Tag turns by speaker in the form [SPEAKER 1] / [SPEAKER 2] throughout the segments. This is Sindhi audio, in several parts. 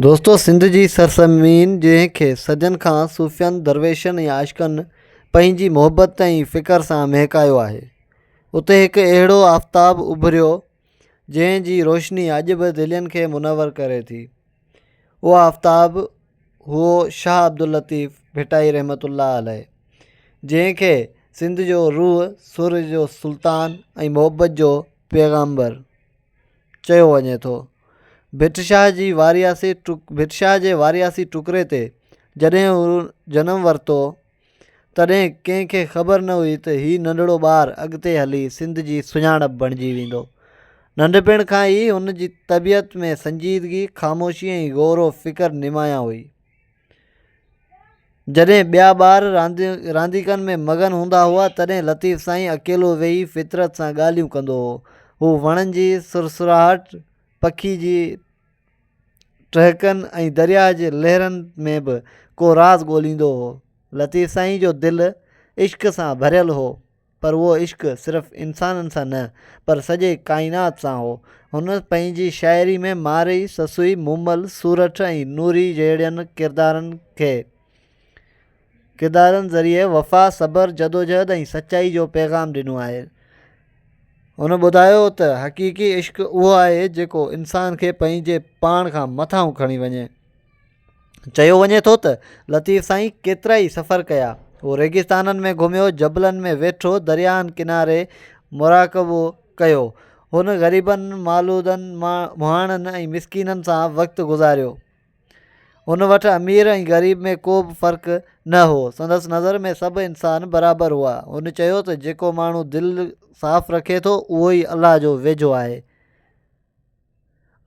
[SPEAKER 1] دوستو سنڌ جي سرزمين جنهن کي صدين کان صوفين، درويشن ۽ عاشقن پنهنجي محبت ۽ فڪر سان مهڪايو آهي اتي هڪ اهڙو آفتاب اڀريو جنهن جي روشني اڄ به دلين کي منور ڪري ٿي اهو آفتاب هو شاهه عبداللطيف ڀٽائي رحمت الله عليه جنهن کي سنڌ جو روح سر جو سلطان ۽ محبت جو پيغامبر چيو وڃي ٿو. ڀٽ شاهه جي وارياسي ڀٽ شاهه جي وارياسي ٽڪري تي جڏهن هو جنم ورتو تڏهن ڪنهن کي خبر نه هئي ته هي ننڍڙو ٻار اڳتي هلي سنڌ جي سڃاڻپ بڻجي ويندو. ننڍپڻ کان ئي هن جي طبيعت ۾ سنجيدگي، خاموشي ۽ غور و فڪر نمايان هئي. جڏهن ٻيا ٻار رانديڪن ۾ مگن هوندا هئا، تڏهن لطيف سائين اڪيلو ويهي فطرت سان ڳالهيون ڪندو هو. هو وڻن جي سرسراهٽ، پکين جي ٽهڪن ۽ درياء جي لهرن ۾ به ڪو راز ڳوليندو هو. لطيف سائين جو دل عشق سان ڀريل هو. پر اهو عشق صرف انسانن سان نه پر سڄي ڪائنات سان هو. هن پنهنجي شاعري ۾ مارئي، سسئي، مومل، سورٺ ۽ نوري جهڙين ڪردارن کي ڪردارن ذريعي وفا، صبر، جدوجهد ۽ سچائي جو پيغام ڏنو آهي. هن ٻڌايو ته حقيقي عشق اهو آهي جيڪو انسان کي پنهنجي پاڻ کان مٿانهون کڻي وڃي. چيو وڃي ٿو ته لطيف سائين ڪيترا ئي سفر ڪيا هو ريگستانن ۾ گهميو جبلن ۾ ويٺو درياهن ڪناري مراقبو ڪيو هن غريبن معلودن مهاڻن ۽ مسڪينن سان وقت گذاريو هن وٽ امير ۽ غريب ۾ ڪو به فرق نه هو سندس نظر ۾ سڀ انسان برابر هئا هن چيو ته جيڪو ماڻهو دل صاف رکي ٿو اهو ئي الله جو ويجهو آهي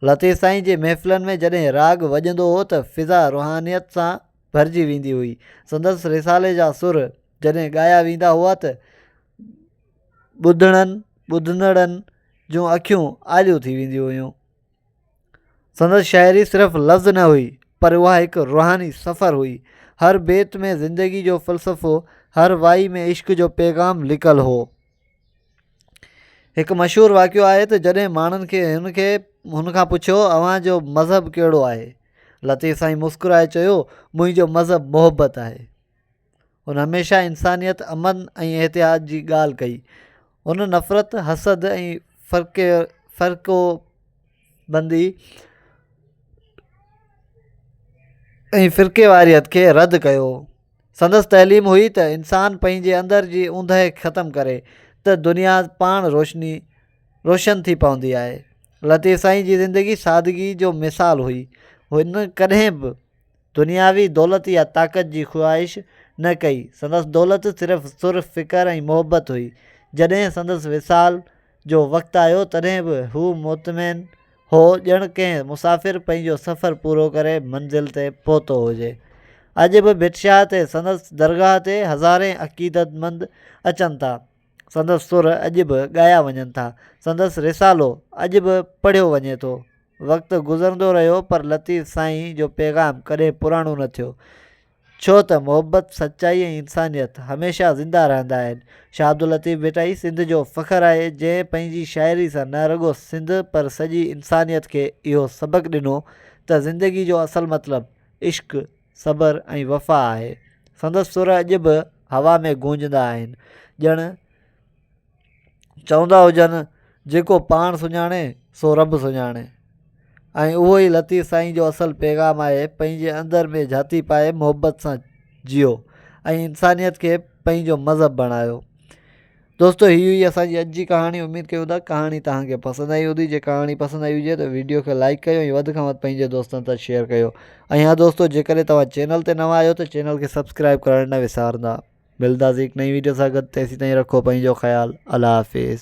[SPEAKER 1] لطيف سائين جي محفلن ۾ جڏهن راڳ وڄندو هو ته فضا روحانيت سان ڀرجي ويندي هئي سندس رسالي جا سر جڏهن ڳايا ويندا هئا ته ٻڌڻن ٻڌندڙن جون اکيون آليون ٿي وينديون هيون سندس شاعري صرف لفظ نه هئي پر اها هڪ روحاني سفر هئي هر بيت ۾ زندگي جو فلسفو هر وائي ۾ عشق جو پيغام لڪل هو هڪ مشهور واقعو آهي ته جڏهن ماڻهن کي هن کي هن کان پڇيو اوهان جو مذهب ڪهڙو آهي لطيف سائين مسڪرائي چيو منهنجو مذهب محبت آهي هن هميشه انسانيت امن ۽ احتياط جي ڳالهه ڪئي هن نفرت حسد ۽ فرق فرقو بندي ۽ فرقي واريت کي رد ڪيو سندس تعليم هئي ته انسان پنهنجي اندر جي اوندهه ختم ڪري ته دنيا پاڻ روشني روشن ٿي پوندي آهي لطيف سائين جي زندگي سادگي جو مثال هئي هن ڪڏهن به دنياوي دولت يا طاقت جي خواهش نه ڪئي سندس دولت صرف سر فڪر ۽ محبت هئي جڏهن سندس وصال جو وقت آيو تڏهن به هو مطمئن هو ڄڻ ڪنهن مسافر پنهنجو سفر پورو ڪري منزل تي پهتو هجي. اڄ به ڀٽ شاهه تي سندس درگاهه تي هزارين عقيدتمند اچن ٿا. سندس سر اڄ به ڳايا وڃن ٿا. سندس رسالو اڄ به پڙهيو وڃي ٿو. وقت گذرندو رهيو پر لطيف سائين جو پيغام ڪڏهن پراڻو نه ٿيو. ڇو ته محبت، سچائي ۽ انسانيت هميشه زنده رهندا آهن. شاهه عبداللطيف ڀٽائي سنڌ جو فخر آهي، جنهن پنهنجي شاعري سان نه رڳو سنڌ پر سڄي انسانيت کي اهو سبق ڏنو ته زندگي جو اصل مطلب عشق، صبر ۽ وفا آهي. سندس سر اڄ به هوا ۾ گونجندا آهن، ڄڻ. چوندا هجن جيڪو پاڻ سڃاڻي سو رب سڃاڻي ۽ اهو ئي لطيف سائين جو اصل پيغام آهي پنهنجي اندر ۾ جهاتي پائي محبت سان جيو ۽ انسانيت کي پنهنجو مذهب بڻايو دوستو هي هئي اسان جي اڄ جي ڪهاڻي اميد ڪيو ٿا ڪهاڻي توهان کي پسند آئي هوندي جي ڪهاڻي پسند آئي هجي ته ويڊيو کي لائڪ ڪيو ۽ وڌ کان وڌ پنهنجي دوستن سان شيئر ڪيو ۽ ها دوستو جيڪڏهن توهان چينل تي نوان آهيو ته چينل کي سبسڪرائب ڪرڻ نه وسارندا ملداسين هڪ نئين ويڊيو سان گڏ تيسين تائين رکو پنهنجو خيال الله حافظ.